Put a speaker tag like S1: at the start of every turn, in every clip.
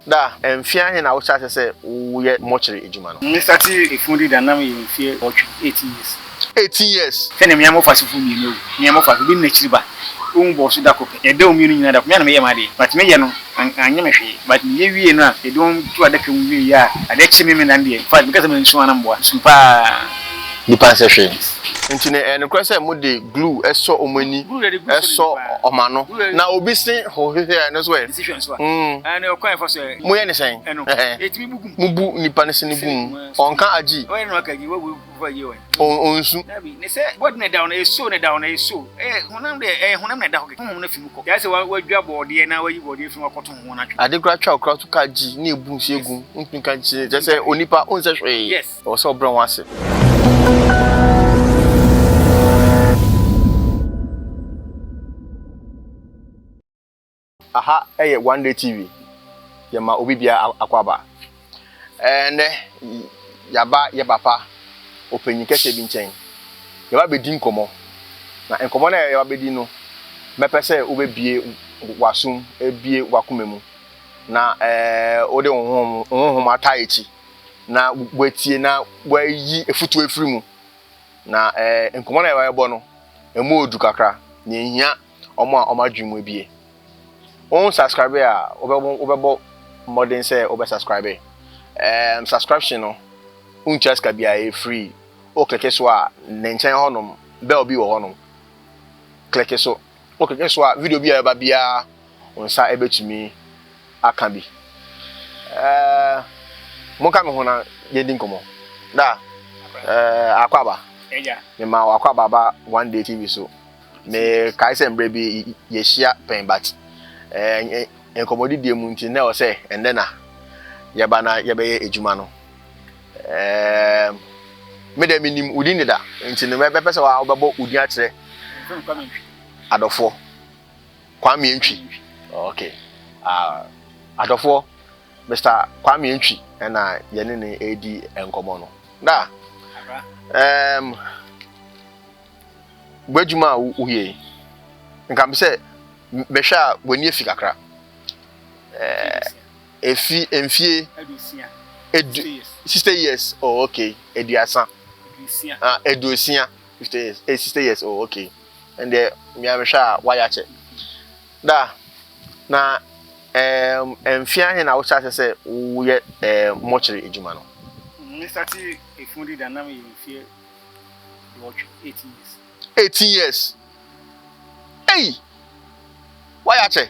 S1: Da, mfe ahe na wohyɛ ase sɛ woyɛ mortuary adwuma no? Me startee efun di da
S2: na me yɛ mfe awɔtwe, eighteen years. Eighteen years.
S1: Hwɛ na mia mofas fo
S2: mienu awu, mia mofas, obi ne nakyiri ba, owu bɔɔ so da kor pɛ, yɛdɔɔ mienu nyina da kor, me a na meyɛ m'adee, but me yɛ no annyɛ me hwee, but me yɛ wiee no a, yɛde wɔn to adaka mu wiee a, ade kye me me nan deɛ, infact me kasa mansuo a na mboa, sum paa. nnipa nsɛ
S1: hwee. Enti no, ɛyɛ nokorɛ sɛ mode glue sɔ wɔn ani, sɔ wɔn ano, na obi se ho hwehwɛ a, ɛno nso ɛ?
S2: Moyɛ no sɛn? Mobu nipa no sini
S1: gu mu, ɔnka agyi,
S2: ɔnsu. Ade koraa twa okra so ka
S1: agyi na ɛbu nsuo gu mu, wontumi nka agyi, kyerɛ sɛ onipa onsɛ hwee. Ɛwɔ sɛ ɔbrɛ ho
S2: ase.
S1: Aha yɛ one day TV yɛma obi bia akɔ aba ɛnɛ yaba yɛ papa ɔpanyin kɛseɛ bi nkyɛn yɛba abɛdi nkɔmɔ na nkɔmɔ no a yɛba abɛdi no mɛpɛ sɛ wo bɛbie w'aso mu ɛbie w'akoma mu na wode wo honhom ataa akyi. na wɔatie na wɔayi afutu afiri mu. Na ɛɛ eh, nkɔmmɔ na yɛbɔ no, ɛmu odu kakra, na ehia wɔn a wɔn adwene mu abie. Wɔn subscribe a wɔbɛbɔ wɔbɛbɔ mmɔden sɛ wɔbɛ subscribe. Ɛɛ eh, subscription no ntua sika biara ɛyɛ free. O kleke so a ne nkyɛn hɔnom bɛl bi wɔ hɔnom. Kleke so. O kleke so a video bi a ɛba biara wo nsa bɛtumi aka bi. Ɛɛɛ monka me ho na yɛdi nkɔmmɔ. Da ɛɛ akwaba. Ɛgya.
S2: Mema wo akwaba ba
S1: one day TV so. Me kae sɛ mbrɛ bi yɛhyia pɛn but ɛɛ nkɔmmɔdidie mu nti na ɛwɔ sɛ ɛndɛ na yɛba na yɛbɛyɛ adwuma no. Ɛɛɛ me dɛ menim wo din deda nti no mɛbɛpɛ sɛ wobɛbɔ wo din akyerɛ adɔfoɔ. Kwame Antwi. Okay. Uh, adɔfoɔ, Mr. Kwame Antwi ɛna yɛne ne ɛredi nkɔmmɔ no. Da, um, w'adwuma a woyɛ yi, nka me sɛ mehwɛ a w'ani afi kakra. Efi eh, mfie edu sixty years oh okay eduasa ah eduosia fifty years eh sixty years oh okay. ɛndeɛ me ara mehwɛ a woayɛ akyɛ da na ɛɛm mfe ahe na wohyɛ ase sɛ woyɛ ɛɛm mɔkyere adwuma no. Me starte
S2: efunu di da na meyɛ mfeɛ duɔtwe eighteen years.
S1: Eighteen years ei woayɛ akyɛ.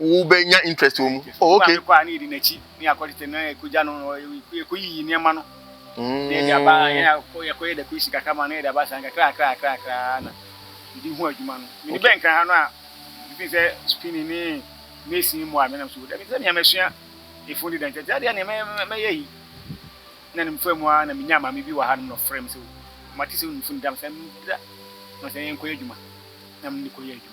S1: wobɛnya interest wɔ mu. Oh, okay. Mekɔ a, na yɛdi n'akyi,
S2: na yɛakɔ tete, na yɛkɔgya no, yɛkɔyiyi nneɛma no, na yɛde aba, mm. yɛn akɔ, yɛkɔyɛ dakusi kakra ma, na yɛde aba saa kakra kakra kakra kakra na yɛde hu adwuma no. Mede bɛn kan ha no a, mefiri sɛ spinning ne mason mu a menam so, dabi sɛ nea masua efun de dɛntɛtɛ adeɛ nea mɛyɛ yi, na ne mfa mu a na menya maame bi wɔ ha nom na ɔfrɛ me sɛ, mate sɛ wonim fun dam sɛ meda, na sɛ yɛnkɔyɛ adwuma, na mene kɔyɛ adwuma.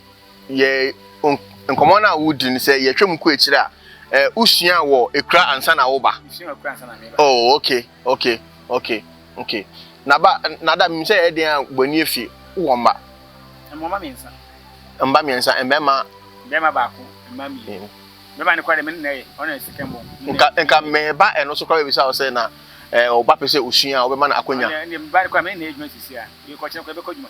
S1: yɛ nkɔmmɔ no a wodi no sɛ yɛtwa mu kɔ akyire a eh, wosua wɔ ekura ansa na woba
S2: oh okay
S1: okay okay okay na ba na da mi sɛ yɛ den a bɔni efi wɔ mma mma mmiɛnsa mma
S2: mmiɛnsa
S1: mmarima mmarima
S2: baako mma mmienu mmarima ne kɔ de me nna yɛ ɔna sika mbɔ nka nka mɛba
S1: ɛno so kɔ bɛ bi sa ɔsɛ na ɛɛ ɔba pɛ sɛ osua a ɔbɛma no akonya ɛna mba ne kɔ a me nna yɛ adwuma
S2: sisi a yɛ kɔ kyerɛ kɔ yɛ bɛ kɔ adwuma.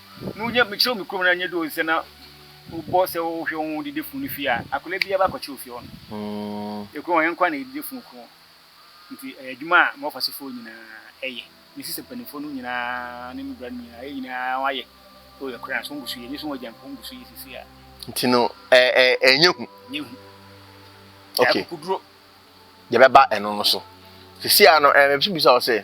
S1: na wonya mekyerɛw
S2: me kurom na nyɛ dɛ sɛ na wobɔ sɛ wohwɛ wo ho didifo no fie a akwadaa biara ba kɔkyerɛw fie hɔ no kurom hɔ yɛn nko na yɛ didifo no kurom nti ɛyɛ adwuma a mɔfa so fo nyinaa yɛ me sisi mpanimfo no nyinaa ne me bra no nyinaa yɛ nyinaa wɔayɛ o yɛ koraa so ngusu yɛ nyɛ so wɔn agyanfo ngusu yɛ sisi a nti no
S1: ɛɛ ɛnyɛ hu nyɛ hu okay kuduro
S2: yɛbɛba
S1: ɛno no so sisi a no ɛɛ mɛbisa bisa wɔ sɛ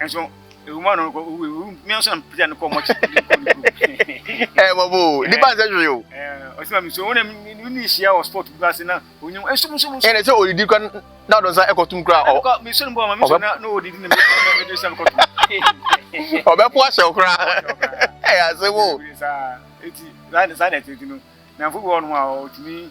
S2: Nso ewu ma no kɔ owu ewu mi nso am pita no kɔ mo kyi mi kɔ no kɔ. Eh mo bo
S1: ni ba nse hwe yo. Eh osi ma mi so wona
S2: mi ni shia o sport bi ase na onyim enso mo so mo. Eh na se odidi kwa
S1: na odon sa ekɔ tum kura o. Mi so no bo ma mi so na
S2: na odidi na mi do sa ko tum.
S1: Obe po ase okura. Eh ase mo.
S2: Eti sa na sa na eti no. Na mfu bi wɔ no a otumi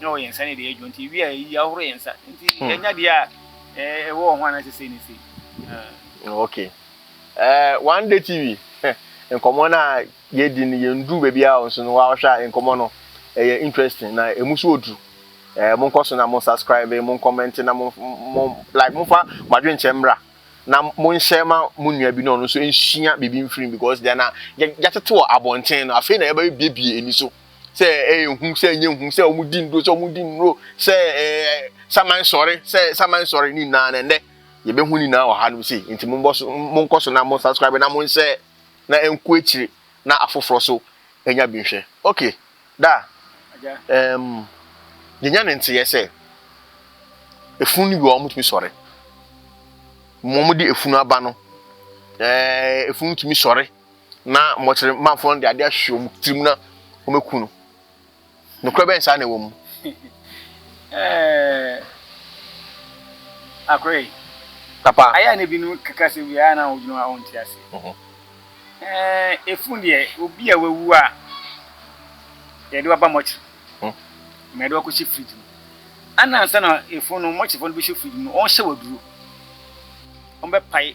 S2: na ɔwɔ yɛn nsa ne deɛ ɛdwo nti wie a ɛyi ahoro yɛn nsa nti hmm. yɛnya deɛ a ɛwɔ wɔn ho anaasɛ sei ne sei hmm, ok
S1: uh, one day tv nkɔmmɔ no a yɛdi no yɛnduru baabi a nso no wɔahwɛ a nkɔmmɔ no ɛyɛ interesting na ɛmu so ɔduru eh, monkɔ so na mo subscribe mo nkɔmmɛnte na mo mo like mofa mo adwenkyɛ mmra na monhyɛ ma mo nua bi na ɔno nso nsua biribi mfiri because deɛ na yɛatete wɔ abɔnten no afei na yɛbɛbiebie ani so sɛ ɛyɛ hu sɛ ɛnyɛ hu sɛ wɔn di nnuro sɛ wɔn di nnuro sɛ ɛɛ saman sɔre sɛ saman sɔre ne nyinaa na ɛnɛ yɛbɛhu ne nyinaa wɔ ha nom sei nti mo mbɔ so mo nkɔ so na mo subscribe na mo nsɛ na ɛnko akyire na afoforɔ so ɛnya bi nhwɛ okay da ɛɛm yɛnya ne nteɛ sɛ efunu no bi wɔn tumi sɔre wɔn de efunu aba no ɛɛ efunu tumi sɔre. Na mɔkyere manfoɔ no de adeɛ ahwehwɛ wɔn tirim na wɔbɛku no. Nokorɛ bɛn saa na ɛwɔ mu? Eh,
S2: Akorɛ yi. Papa. Ayɛ
S1: a na ebinom keka
S2: asɛm bi a na wɔdwene hɔ a wɔnte aseɛ. Mhm. Eh, efunu deɛ, obi a wawu a yɛde waba mɔkyere. Mhm. Ma yɛde wakɔhyɛ fridge mu. Ana ansa na efunu no, mɔkyerefoɔ no bɛhyɛ fridge mu no, wɔhyɛ wɔ aduro. Wɔbɛpae.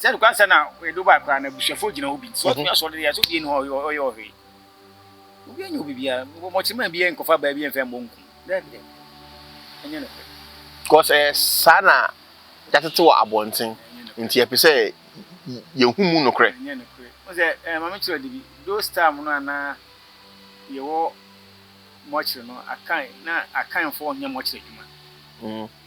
S2: Sɛ nokwar nsɛm na ɔyɛ Dubai koraa na ebusuafo gyina hɔ bi, sɛ ɔtumi asɔw no dɛ yɛse obi nni hɔ a ɔyɛ ɔhwe. Obiara nnyɛ obi biara, mbɔmbɔtsemaa biara nnkɔfa baa biara mmfa mmbɔ nku no. Daabi daabi, nnyɛ nokwar. Cos ɛyɛ
S1: saa na yɛatsetse wɔ abɔntsen ntsi yɛpɛ sɛ yehu mu nokorɛ. Nnyɛ nokorɛ. Wohu sɛ
S2: eh, ma menkyerɛ wo ade bi. Those time no a na yɛwɔ mortuary no, Akan, na Akanfoɔ nyɛ mortuary adwuma.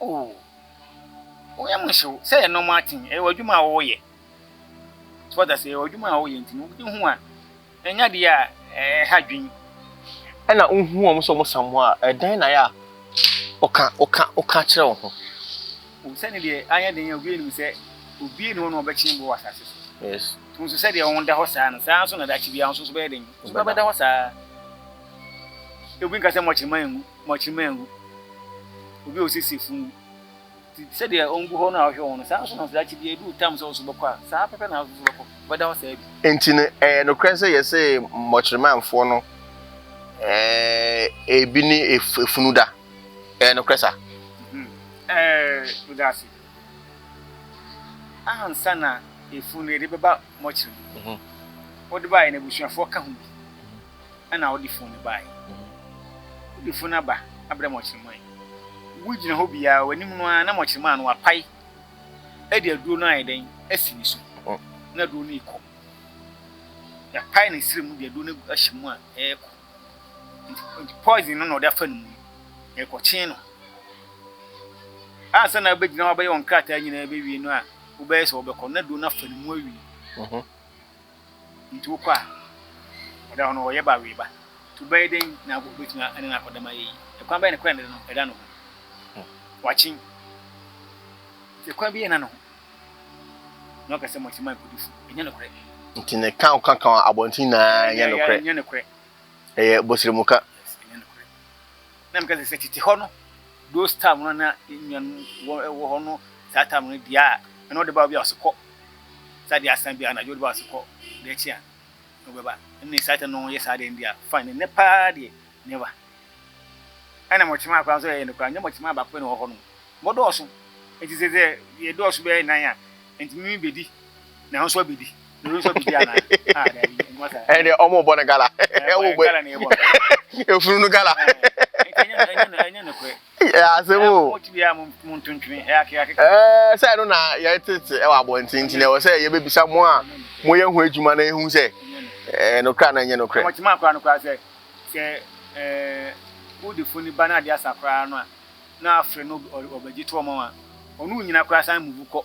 S1: O, wo yam nhyew sɛ ɛnɔm aten, ɛyɛ w'adwuma a woyɛ. So wate ase? Ɛyɛ w'adwuma a woyɛ nti no wode hu a, ɛnyɛ ade a ɛha adwene. Ɛna wohu wɔn sɛ wɔsamoa a, ɛdɛn na ayɛ a woka, woka, woka kyerɛ wo ho? O, sɛ ne
S2: deɛ anyɛ den a obiara nnim sɛ obiara nni hɔ na ɔbɛkyem bo wɔ asase so. Yes. To
S1: nso sɛdeɛ wo ho
S2: da hɔ saa no, saa ara nso na daakye biara wo nso so bɛyɛ den, wo nso bɛda hɔ saa ara. Obi nka sɛ mmɔ kyema ngu. mɔkyere mangu. Obi a ɔsiesie funu ti sɛdeɛ ɔngu hɔ no a ɔhwɛ wɔn no, saa ara nso na daakye biara ɛduru tam sɛ ɔso bɛkɔ a, saa pɛpɛ na ɔso nso bɛkɔ, ɔbɛda hɔ saa bi. Enti no, ɛyɛ nokorɛ
S1: sɛ yɛse mmɔkyeremamfoɔ no ɛɛ ebi ne efunu da? Ɛyɛ nokorɛ saa? Ɛɛ, meda
S2: ase. Ansa na efunu no yɛde bɛba mɔkyere no, wode baeɛ no abusuafoɔ ka ho bi. na ɔde funu no baeɛ. Wode funu no aba abrɛ Mɔkyerɛman. Wogyina hɔ bi ara, w'anim no ara na Mɔkyerɛman no apae de aduro no ayɛ dɛn? Asi ne so. Na aduro no rekɔ. Yɛapae ne srɛ mu de aduro no ahyɛ mu a, ɛrekɔ. Nti poison no na ɔde afa ne mu no, ɛrekɔkyen no. Ansa na wobɛgyina hɔ abɛyɛ wɔn krataa nyinaa bɛwie no a, wobɛyɛ sɛ wɔbɛkɔ na aduro no afa ne mu awie. Nti wokɔ a, ɔda hɔ no ɔyɛ ba we ba. Nti wobɛyɛ dɛn na wobɛtumi ne no akɔdam ayɛ yie? Ɛkwan bɛn na kora ne de no ɛda ne ho? Wakyen. Nti ɛkwan bi yɛ na ne ho. Na ɔka sɛ mote ma nkɔ di funu. Ɛnyɛ nokorɛ. Nti ne ka wo ka
S1: ka abɔnten nyinaa ɛnyɛ nokorɛ. Ɛnyɛ nokorɛ. Ɛyɛ bosrɛmu ka. Yes, ɛnyɛ nokorɛ.
S2: Na meka sɛ, Sɛ tete hɔ no, those time no a na yɛn nuanom wɔ wɔ hɔ no, saa time no deɛ a, ɛna ɔde ba obi a ɔse kɔ, saa deɛ asan bi a anadwo ɔde ba ɔse kɔ, deɛ akyi a na ɔbɛba. Ɛnna saa time no yɛ saa deɛ deɛ fine, ɛnɛ paa deɛ never. Ɛna mɔkyemaa koraa nso ɛyɛ no koraa, nyɛ mɔkyemaa baako pɛ na ɔwɔ hɔ nom, mɔdɔɔso. Nti sɛ sɛ yɛdɔɔso bɛyɛ nnan a, ntumi bɛdi, na wo nso abɛdi. ɛne ɔmo bɔ no gala efunu no gala asɛm o sɛ
S1: ɛno na yɛtete ɛwɔ abɔnten nti na ɛwɔ sɛ yɛbɛbisa mo a moyɛ ho adwuma na ɛhu sɛ nokora na ɛnyɛ nokorɛ
S2: wode funu ba no ade asa koraa no a na afrɛ no ɔbɛgye to ɔma wa ɔno nyina koraa san mubu kɔ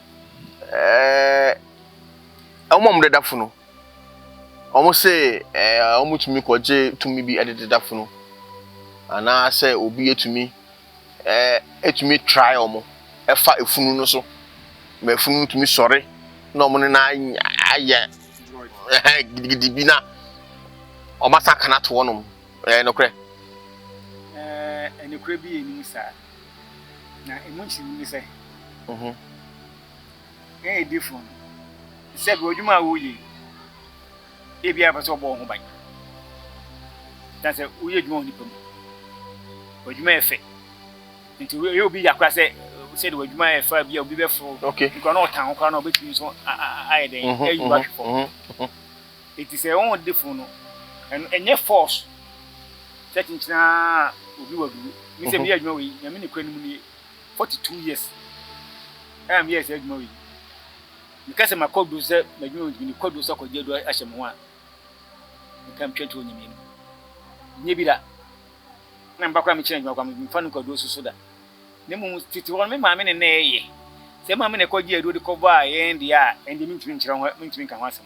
S1: Ɛɛ, wɔn a wɔdeda funu, wɔse ɛɛ wɔtumi kɔgye tumi bi de deda funu, anaasɛ obi atumi ɛɛ tumi tra wɔn fa funu no so ma funu no tumi sɔre na wɔne no anya ayɛ ɛhɛn gidigidi bi na wɔasan akɔ no ato hɔnom. Ɛyɛ nokorɛ? Ɛɛ,
S2: nokorɛ bi nni mu saa. Na emu nkyerɛmu ne sɛ, yɛn adiyifo no, sɛ bi adwuma a woyɛ ebi a pɛ sɛ ɔbɔ wɔn ho ban. Na sɛ woyɛ adwuma wɔ nipa mu, adwuma yɛ fɛ. Nti woyɛ obi yakora sɛ sɛ de adwuma yɛ fɛ bi a obi bɛforo. Nkura na ɔtan ho koraa
S1: na
S2: ɔbɛtumi nso ayɛ dɛn ayi wahwe fam. Enti sɛ wɔn de funu no, ɛno ɛnyɛ force sɛ kyenkyene ara obi wɔ duro. Me sɛ meyɛ adwuma wɔ yi, Nyame nokorɛ no mu nie, 42 years a meyɛɛ saa adwuma wɔ yi, meka sɛ makɔ duro sɛ m'adwuma wɔ yi nti mede kɔ duro sɛ kɔgye aduro ahyɛ me ho a, meka metwa to wɔ Nyame anim. Nyɛ bi da na meba koraa mekyena adwuma koraa memfa no nkɔ aduro so so da. Na mmom tete hɔ no me maame ne na ɛyɛ. Sɛ me maame na ɛkɔgyee aduro de kɔbaa yɛn deɛ a, ɛnde mentumi nkyerɛ ho, mentumi nka ho asɛm.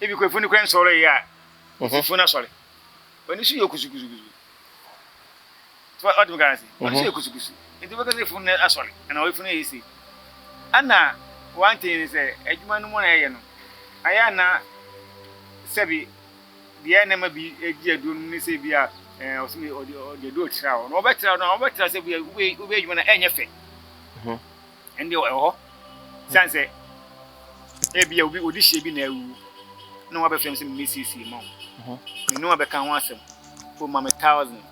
S1: Ebi koraa
S2: funu no koraa nsɔree a ɔsi funu asɔre. Ɔni so yɛ kusukusu kusu. So ɔte me garansi. Ɔni so yɛ kusukusu. Nti bɛka sɛ funu no asɔre anaa ɔyɛ funu yɛ sei. Ɛna one thing ne sɛ adwuma no mu na yɛyɛ no ayɛ a na sɛbi deɛ na ɛma bi gye aduro no mu ne sɛ ebi a ɛɛ ɔsi mi ɔde ɔde aduro tra hɔ na ɔbɛtra no a ɔbɛtra sɛ bi a wobɛyɛ adwuma no ɛnyɛ fɛ. ɛnde ɛwɔ hɔ. Esiane sɛ ebia obi odi hyeɛ bi na awu na wabɛfrɛ me sɛ memmɛsiesie ma wo. Me ne wo abɛka ho asɛm. O ma me thousand.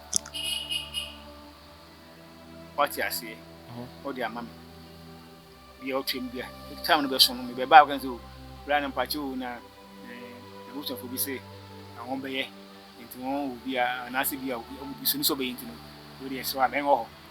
S2: Wate aseɛ. Wode ama me. Bia ɔtwam bia. Time no bɛso no mebɛba a wokɛn sɛ o bra no mpakyɛ o na abusuafoɔ bi sɛ wɔn bɛyɛ nti wɔn wɔ bi a anaasɛ bi a wɔn bi so ne sɛ ɔbɛyɛ nti no wei deɛ ɛsɛ wɔ abɛn wɔ hɔ.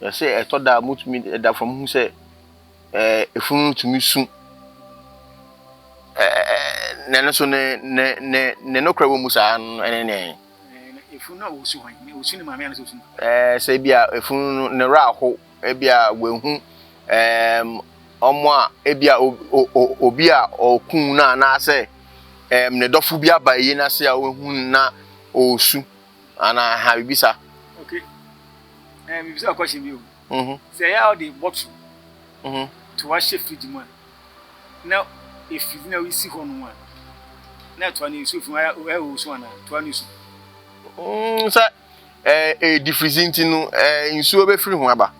S1: Na sɛ ɛtɔ da a, mutumi da fam hu sɛ efunu no tumi su. Nanso ne ne ne ne nokorɛ wɔ mu saa no ne nɛn? Efunu no a wɔsu hwan? Wɔsu ne maame
S2: anaa sɛ wɔsu ne papa? Ɛɛ sɛ ebi a
S1: efunu no ne werɛ ahow, ebi a wɔahu ɛɛm wɔn a ebi a obi a ɔkuu no anaasɛ ɛɛm ne dɔfo bi aba ayie no ase a wɔahu no na ɔresu. Ana ha bibisa.
S2: Okay. Eh bibisa question bi o. Mhm. Sɛ ya ɔde bottle. Mhm. To wahyɛ fridge mu a. Na efridge na ɔsi hɔ no a. Na to ani nsu fi wa ɛ wo so ana. To ani nsu. Mm sɛ
S1: eh eh defrizi nti no eh nsuo bɛ firi ho aba.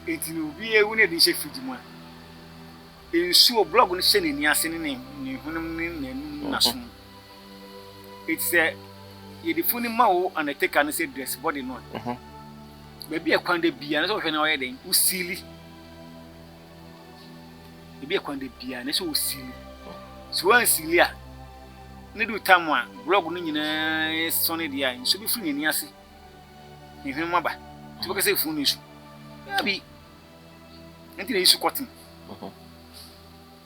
S2: Eti no obi ewu na ebi hyɛ fridge mu a. Nsuo blog no hyɛ n'ani ase ne ne ne hwenem ne n'anum n'aso. Eti sɛ yɛde funu no ma wo undertaker no sɛ dress body no a, baabi a ɛkwan da biara na sɛ wɔhwɛ na wɔyɛ dɛn wosili. Baabi a ɛkwan da biara na sɛ wosili. So wansili a, ne du tam a blog no nyinaa sɔne deɛ a, nsuo bɛfiri n'ani ase. Ne hwene mu aba. Nti bɛka sɛ funu no nsu. Daabi. Nti na yi su kɔten.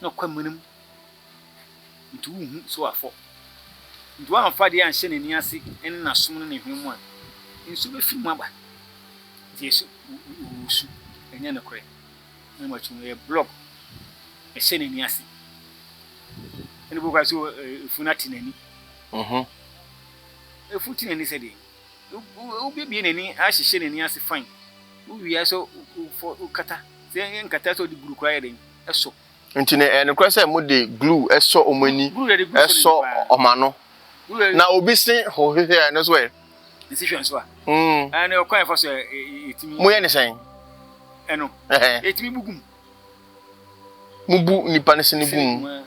S2: na kwamena mu, nti wonhu sɛ wafɔ. Nti wamfa adeɛ anhyɛ n'ani ase ne n'asom ne ne hwene mu a, nsuo bɛfiri mu aba. Nti yɛse wosu, ɛnyɛ nokorɛ. Na makyi no, ɛyɛ blɔg, ɛhyɛ n'ani ase. Ɛna obi koraa se efunu ate n'ani. Efunu te n'ani sɛdeɛn? Wobɛbue n'ani ahyehyɛ n'ani ase fann, wowie a sɛ wofɔ wokata, sɛ nkata sɛ wode glue koraa yɛ dɛn sɔ. Nti no ɛyɛ nokorɛ
S1: sɛ mode glue sɔ wɔn ani, sɔ wɔn ano, na obi se ho hwehwɛ a ɛno nso ɛ? Nsi hwɛ nso a?
S2: Ɛɛ na ɔkwan a ɛfa so a ɛtumi. Moyɛ no sɛn?
S1: Ɛno?
S2: Ɛtumi bu gu mu. Mobu
S1: nnipa no sini gu mu?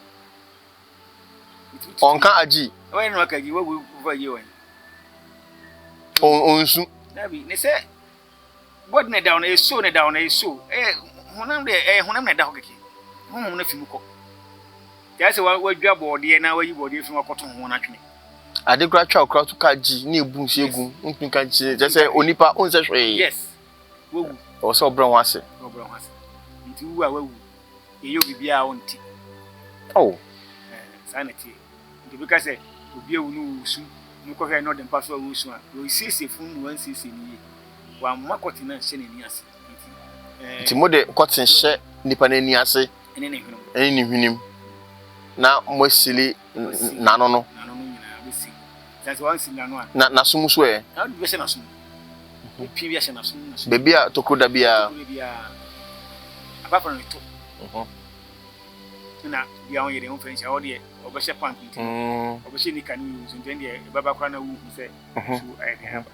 S1: Ɔnka
S2: agyi. Ɔnsu. Ade koraa twa
S1: ɔkra so ka agyi na ebu nsu egu mu. Wontumi nka agyi kyerɛ sɛ onipa onsɛ hwee. Ɛwɔ
S2: sɛ ɔbrɛ ho
S1: ase.
S2: yɛyɛ obi biara a ɔnte. Oh. Ɛɛ, saa na ɛteɛ. Nti obi ka sɛ obi awu no ɔresu, na wokɔhwɛ a na ɔde mpa so a ɔresu a, ɔresiesie funu no na wansiesie no yie. Wamma kɔten anhyɛ n'ani ase. Nti, ɛɛ. Nti
S1: mode kɔten hyɛ nipa no ani ase. Ɛne ne hwenem. Ɛne ne hwenem. Na moasili n'ano no. Na n'aso mu so
S2: ɛ? Baabi a tokuro da biara. Mm.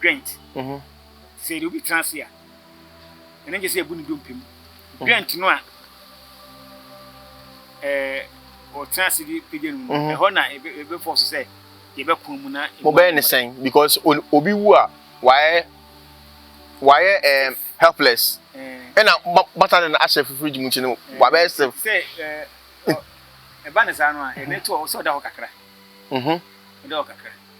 S2: Dwent, sɛ yɛde obi tena ase a, ɛno nkyɛ sɛ yɛbu ne dompe mu. Dwent no a ɔtena ase de pagya no mu, ɛhɔ na ɛbɛfɔ so sɛ yɛbɛko mu na. Mobɛyɛ ne sɛn
S1: because obi wu a wayɛ wayɛ ɛɛ helpless ɛna bata ne na ahyɛ fifiri gyi mu nti no wabɛyɛ sɛ. Sɛ ɛɛ
S2: ɛba ne saa no a ɛbɛto ɔsɛ ɔda hɔ kakra. Ɔda hɔ kakra.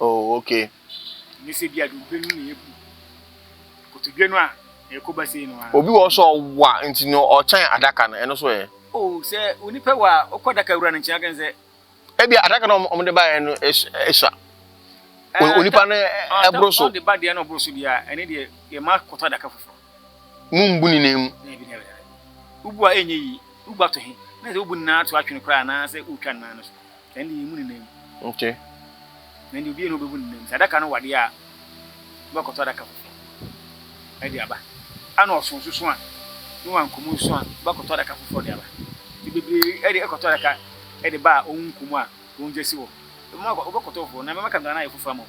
S2: Oh okay. Ɛnyɛ sɛ bi a deɛ
S1: wobɛnu
S2: na ɛyɛ bu. Kotodwe no a ɛrekɔ ba sei no ara. Obi wɔ hɔ sɛ ɔwa
S1: nti no ɔkyɛn adaka no, ɛno so ɛ? Oh, sɛ wo
S2: nipa wa a, wokɔ adaka wura no nkyɛn aka no sɛ. Ebia adaka no
S1: a wɔde baeɛ no sua. Eh, onipa no ɛboro so. Ɔde ba deɛ no ɔboro so deɛ
S2: a, ɛne deɛ yɛma kɔtɔ adaka foforɔ. Mumbu ne
S1: nan mu.
S2: Wobu a ɛnyɛ yie. Wobu ato he? Na sɛ wobu ne nan ato atwene koraa anaasɛ wotwa ne nan no so. Na ɛnde yɛmmu ne nan mu. Ok.
S1: Na ɛnde
S2: obiara nni hɔ a ɔbɛbu ne nan mu. Sɛ adaka no wɔ adeɛ a, wobɛkɔtɔ adaka foforɔ de aba. Ana ɔso nso so a, ne wanko mu nso a, wobɛkɔtɔ adaka foforɔ de aba. Nti bebree de kɔtɔ adaka de ba a wɔnko mu a wɔgya si hɔ. Wobɛkɔtɔ foforɔ, na mɛma Kandahar no ayɛ foforɔ ama wo.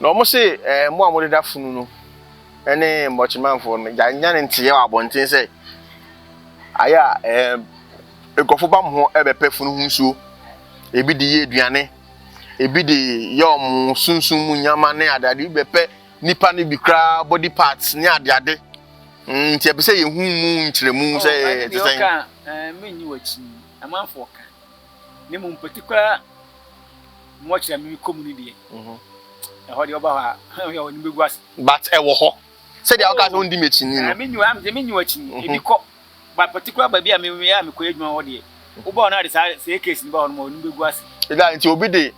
S2: Na wɔn se,
S1: Ɛɛ, mo a modeda funu no ne mmɔkyemamfoɔ no, gya nnya ne nteeɛ wɔ abɔnten sɛ, ayɛ a, ɛɛ, nkurɔfoɔ ba mo hɔ bɛpɛ funu ho nsuo, ebi de yɛ aduane, ebi de yɛ wɔn sunsum mu nneɛma ne adeade, ebi bɛpɛ nnipa no bi koraa body parts ne adeade. Mm, nti ɛpɛ sɛ yɛhu mu nkyerɛmu sɛ ɛte
S2: sɛn. na mmom mpoti koraa mu ɔkyena me mekɔ mu no deɛ ɛhɔ deɛ ɔba hɔ a ɔyɛ ɔnim bɛgu ase but ɛwɔ hɔ
S1: sɛdeɛ woka sɛ wondi m'akyi ni no menyi w'akyi ni
S2: ebi kɔ but mpoti koraa baabi a meyɛ a mekɔyɛ adwuma hɔ deɛ wobɔ hɔ no ade saa sɛ case no bɔ hɔ no ma ɔnim bɛgu ase ɛda nti obi de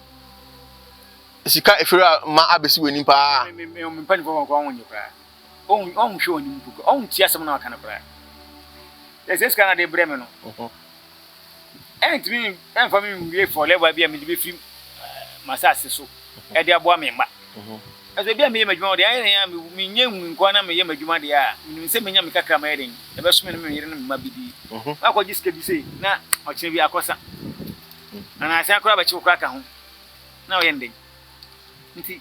S1: sika ɛfiri ma abɛsi w'anim paa mempanifoɔ
S2: wɔnkɔ ho nyɛ koraa Ɔnhu ɔnhwɛ wɔn anim mpo. Ɔntie asɛm no a wɔka no koraa. Sɛ sɛ sika na de brɛ me no, ɛrentumi mfa me nwie for level bi a mede bɛfiri m'asase so de aboa me mma. Nanso ebi a meyɛ m'adwuma wɔ deɛ ayɛ dɛn a menyɛ nhunu nko ara na meyɛ m'adwuma deɛ a, menim sɛ mɛnya me kakra a mɛyɛ dɛn, ɛbɛso me ne me yere ne me mma bɛdi. Woakɔgye sika bi sei na ɔkyena bi akɔsa anaa asan koraa abɛkye wo koraa ka ho na woyɛ no dɛn? Nti.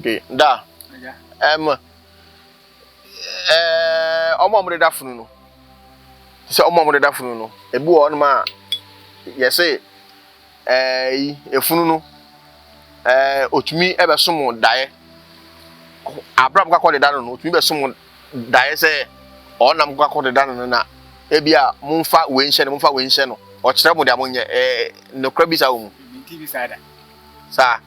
S1: Okay, da. Ɛm, ɛɛ, eh, ɔmo a ɔmo deda funu no. Sɛ ɔmo a ɔmo deda funu no, ebi wɔ ɔnom a yɛse ɛɛ eh, yi efunu no ɛɛ eh, otumi ɛbɛsom daeɛ. Abram kakɔ deda no no, otumi bɛsom daeɛ sɛ ɔnam kakɔ deda no no na ebi a momfa wei nhyɛ no, momfa wei nhyɛ no. Ɔkyerɛ mo deɛ monyɛ ɛɛ eh, nokora bi saa wɔ mu.
S2: Saa.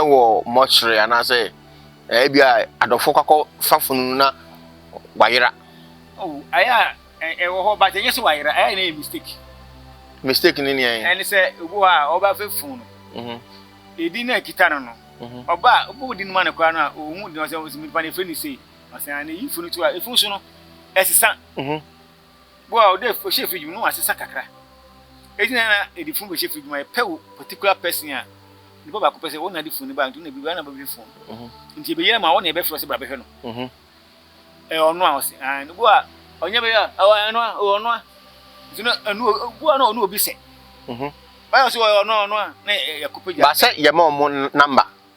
S1: wɔ mortuary anaasɛ ɛɛ bi a adɔfo kakɔ fa funu no na wayera. Oh, ayɛ
S2: a ɛwɔ hɔ but ɛnyɛ sɛ wayera ayɛ na yɛ mistake.
S1: mistake ne nea yɛn. ɛne sɛ obi hɔ
S2: a ɔba fɛ funu no. Mhm. edin na ekita no no mhm. ɔba a ɔbɔ din ma no koraa no a ohun din ɔsɛ ɔsɛ nipa na efiri ne sei ɔsɛ na eyi funu to a efunu so no ɛsesa. Mhm. Bo a ɔda ɔhyɛ fridge mu no asesa kakra. Eti na na yɛde fun bɛhyɛ fridge mu a yɛpɛ wo particular person a nipa baako pɛ sɛ wɔn na ɛde fun no ba nti na biribiara na bɛhwɛ fun nti yɛbɛyɛ ama wɔn na yɛbɛfrɛ sɛ bra bɛhwɛ no ɛyɛ ɔno a ɔsɛ ɛn no bo a ɔnyɛ bɛyɛ a ɛwɔ ɛno a ɛwɔ ɔno a nti na ɛno bo a na ɔno obi sɛ ɔyɛ ɔsɛ ɔyɛ ɔno a ɔno a na yɛkɔpɛ gya baasɛ yɛma ɔmo
S1: namba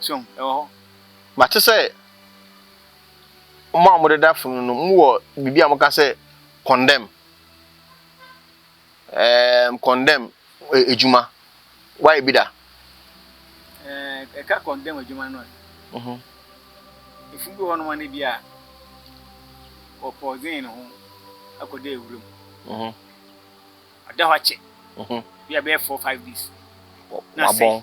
S2: So hu? Ɛwɔ hɔ. Mate sɛ
S1: mo a modeda fam no no, mowɔ biribi a moka sɛ condemn. Ɛɛm, condemn eh, adwuma. Woayɛ bi da?
S2: Ɛɛ, ɛka condemn adwuma no a, Mhm. efunu bi wɔ hɔnom a na bi a wɔpɔɔdzen ne ho akɔda awura mu. Mhm. Ɔda hɔ akyɛ, Mhm. bi a bɛyɛ four, five days. Na asɛe. Wabɔn.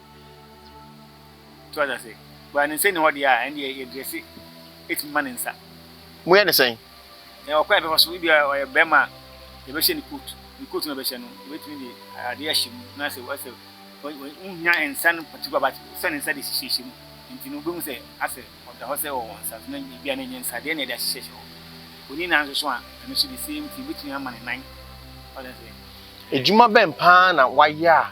S2: So wate ase? Baa ne nsa nni hɔ deɛ a, ɛnneɛ yɛdrɛse ɛtumi ma ne nsa. Moyɛ ne sɛn?
S1: Yɛwɔ kwan a yɛbɛfa
S2: so, ebia ɔyɛ barima a, yɛbɛhyɛ ne coat, ne coat no a yɛbɛhyɛ no, yɛbɛtumi de adeɛ ahyɛ mu na sɛ asɛ wohia nsa no particular but sɛ ne nsa de hyehyɛhyɛ mu nti no wobɛhu sɛ asɛ ɔda hɔ sɛ ɔwɔ nsa so na ebia na ɛnyɛ nsadeɛ na yɛde ahyehyɛhyɛ hɔ. Ɔni nan nso so a, ɛno nso the same thing, wobɛtumi ama ne nan. Wate ase? Adwuma bɛn paa
S1: na wayɛ a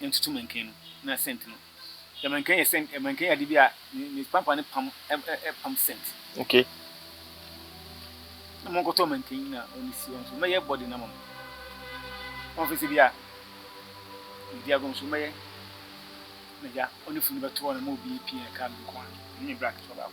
S2: ntutu mankan no na scent no. Yɛ mankan yɛ scent ɛ mankan yɛ ade bi a ne ne pampa no pam ɛ ɛ ɛ pam scent. Okay. Na mo nkɔtɔ mankan na ɔne si wɔn so mɛyɛ body na mo. Wɔn fɛ sɛ bi a medi agom so mɛyɛ na gya ɔne funu bɛtoɔ na mo obi pii ɛka no nko a ne ne black so baako.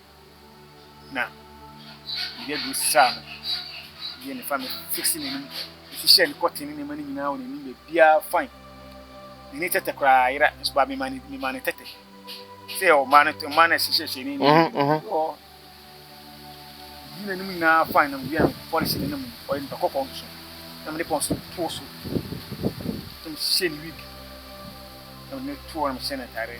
S2: na mede aduro sesaa no yɛ ne fa me fiksi n'anim ɛsi hyɛ ne kɔten ne nneɛma no nyinaa wɔ n'anim baabiara fain n'ani tɛtɛ koraa yera nso baa mema ne mema ne tɛtɛ sɛ ɔmaa no ɔmaa no ɛhyehyɛhyɛ ne anim ɔ yi n'anim nyinaa fain na mewia no fɔre hyɛ n'anim ɔyɛ nipa kɔkɔɔ nso na mede pɔn so too so na mehyɛ ne wig na mede ne too na mehyɛ ne ataadeɛ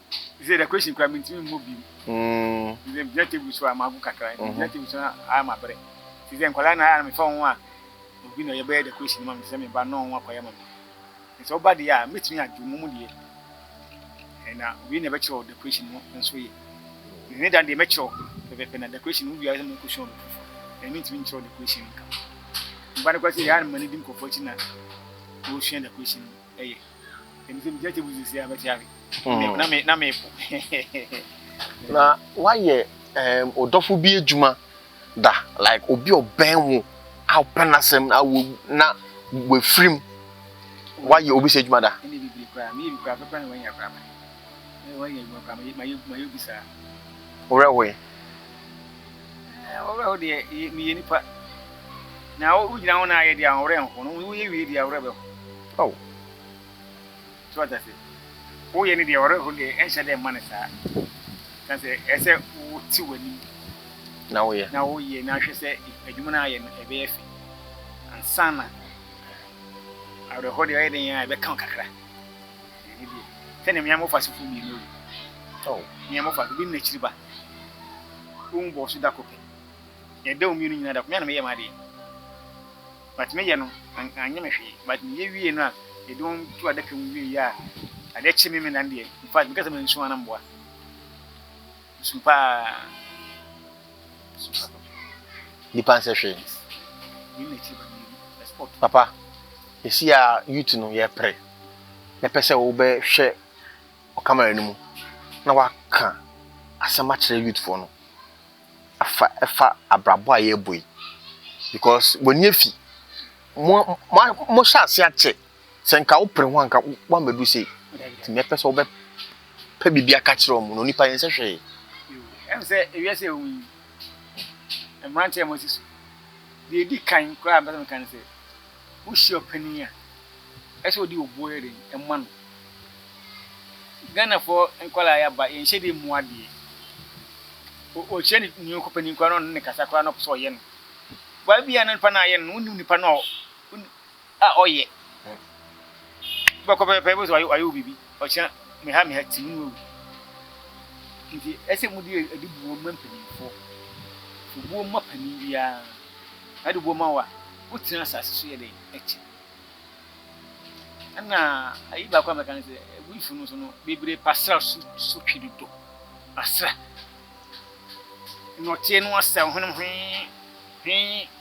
S2: Te sɛ decoration koraa mentumi mmɔ bio. Te sɛ megyina table so a magu kakra, megyina table so na ayɛ mabrɛ. Te sɛ nkwadaa na ayɛ na mefa wɔn a obi na ɔyɛ bɛyɛ decoration ma me, te sɛ me ba na wɔn akɔyɛ ma me. Te sɛ ɔba deɛ a mɛtumi adwo mu mu deɛ na obi na ɛbɛkyerɛ wo decoration no nso yɛ. Ne dan deɛ mɛkyerɛ wo pɛpɛpɛ na decoration no wia sɛ mɛkɔsua obi foforɔ na mentumi nkyerɛ decoration nka. Meba no koraa sɛ yɛ a na m'ani di nkurɔfoɔ akyi na wɔresua decoration no.
S1: Na woayɛ wo dɔfo bi adwuma da, like obi a ɔbɛn wo a wopɛ n'asɛm na wafirim? Woayɛ obi saa adwuma da?
S2: Wo werɛ hoe? Ahoɔwerɛho deɛ, meyɛ nipa. Na wogyina ho na ayɛ deɛ, ahoɔwerɛ renho. Na woyɛ wie deɛ, awerɛ bɛho. Ao! So wate ase? Woyɛ no deɛ, awerɛho deɛ, ɛnhyɛ da mma no saa. Ka sɛ, ɛsɛ sɛ wote w'anim. Na woyɛ.
S1: Na woyɛ, na hwɛ sɛ
S2: adwuma no a woayɛ no, ɛbɛyɛ fɛ. Ansa na awerɛho deɛ, ɔyɛ dɛn ara a, ɛbɛka wo kakra. Ɛne deɛ, sɛdeɛ me ara mɔfa asefoɔ mmienu awu. Tɔɔ,
S1: me ara mɔfa, obi ne
S2: n'akyiri ba. Wɔwu bɔɔ so da koro pɛ. Yɛda wɔn mmienu nyinaa da koro, me ara na meyɛɛ m'adeɛ. But meyɛ no, an, anyɛ me hwee. But meyɛ wiee no a, yɛde wɔn to adaka mu wieeɛ a, adeɛ kyee me, me nan deɛ, in fact, meka sɛ mansu a na mboa. Su paa.
S1: Su paa papa. Nipa nsɛ hwee. Yɛn
S2: na kyerɛ baabi
S1: ɛspɔt. Papa, ɛsi a youth no yɛ pere. Na pɛ sɛ wobɛhwɛ ɔkamara no mu na waka asɛm akyerɛ youth foɔ no. Afa ɛfa abrabɔ a yɛbɔ yi. Because w'ani afi. Mo mo mo hyɛ ase akyɛ. Sɛ nka wopere ho a, nka woammedu sei. Nti nea ɛpɛ sɛ wobɛpɛ biribi aka kyerɛ wɔn no, onipa yɛn sɛ hwee. Ɛm sɛ
S2: ewia sɛ ehu yi, mmerante a wɔasi so. Deɛ edi kan koraa mpɛ sɛ meka ne sɛ, wohyia ɔpanin a, ɛsɛ ɔde obuo yɛ den ɛma no. Ghanafoɔ nkwadaa yɛ aba, yɛn hyɛdeɛ mu adeɛ. Ɔkyerɛ ne nua ɔkɔpanin koraa na ɔne ne kasa koraa na ɔpɛ sɛ ɔyɛ no. Baa bi a na nipa no ayɛ no, wonim nipa no a a ɔyɛ wobɛkɔ pɛpɛpɛ wobɛhu sɛ wayɛ wayɛ wo biribi ɔkyena meha meha ti mu awu nti ɛsɛ mu de ɛde buo ma mpanimfoɔ buo ma panin biara na ɛde buo ma wo a wotena asase so yɛ dɛn ɛkyɛ ɛna ayi baako a mɛka no sɛ abuifo no so no bebree pasra so so twe dodo asra nnɔteɛ no asɛ ho no hwee hwee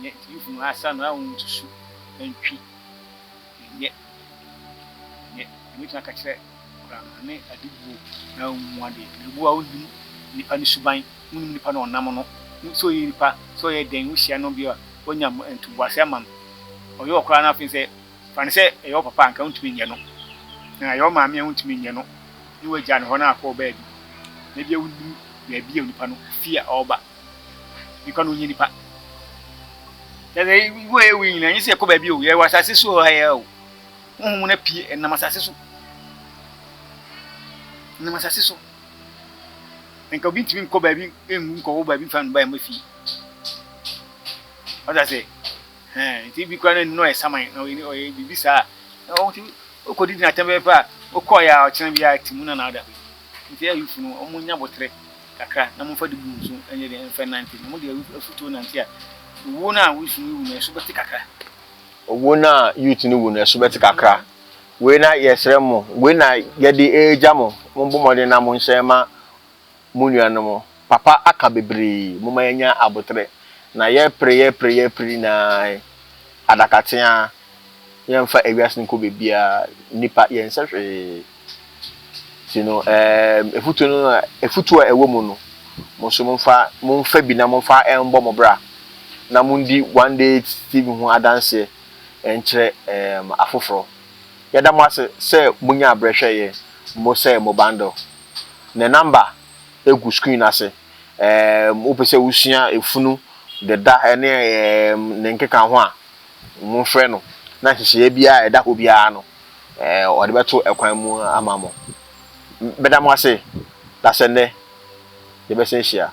S2: Nyɛ yhunu asa no ahu nsusu antwi nyɛ nyɛ yɛbɛtumi aka kyerɛ koraa ne ade buo no ahu mu adeɛ na ɛbu a wonim nipa no suban wonim nipa no ɔnam no wonim sɛ ɔyɛ nipa sɛ ɔyɛ dɛn wohyia no bi a wonya ntoboase ama no ɔyɛ wɔ koraa no afei sɛ fa no sɛ ɛyɛ wɔ papa anka wontumi nyɛ no na ɛyɛ wɔ maame a wontumi nyɛ no ne wagya no hɔ na akɔ wɔ baabi na bia wonim baabi a onipa no fie a ɔba Nipa no nyɛ nipa. Yɛsɛ wo yɛ wo nyina, nyɛ sɛ yɛkɔ baabi o, yɛwɔ asase so ha yɛ o. Honhom mu na pie, ɛnam asase so. Ɛnam asase so. Nka obi ntumi nkɔ baabi nwu nkɔwɔ baabi mfa no ba yɛn fie. Ɔda sɛ, ɛn, nti bi kura no nnɔ yɛ saman na ɔyɛ ɔyɛ biribi saa. Na wɔn ti okɔ didi na atɛm bɛyɛ pɛ a, okɔ yɛ a ɔkyerɛ bi a ti mu na na ada. Nti ayufo no, wɔn nya botere. kakra na momfa de bu nsu nyɛ dɛn mfa nnante, na mode afutuo nante a, owuo no a youth no rewu no, ɛso bɛte kakra. Owuo no
S1: a youth no rewu no, ɛso bɛte kakra. Wei na yɛsrɛ mo, wei na yɛde regya mo, mommɔ mmɔden na monhyɛ mma mo nuanom. Papa aka bebree, momma yɛnya aboterɛ, na yɛrepere, yɛrepere, yɛrepere nyinaa, adakateaa, yɛmfa ewiase no nkɔ baabiara, nnipa, yɛnsɛ hwee. Nti no, ɛɛm, afutuo no na, afutuo a ɛwɔ mu no, mo nso momfa, momfa bi na momfa ɛmbɔ mo bra, na mondi One Day TV ho adanseɛ nkyerɛ ɛɛm, afoforɔ. Yɛda mo ase sɛ monyaa berɛ hwɛɛ yɛn, mo sɛɛ mo bundle. Ne number gu screen no ase. Ɛɛm, wopɛ sɛ wosua efunu, deda ne ɛɛm, ne nkeka ho a, Momfrɛ no, na nhyehyɛeɛ biara a ɛda hɔ biara no, ɔde bɛto kwan mu ama mo. Mɛda mo ase, na sɛ nnɛ yɛbɛsan ahyia.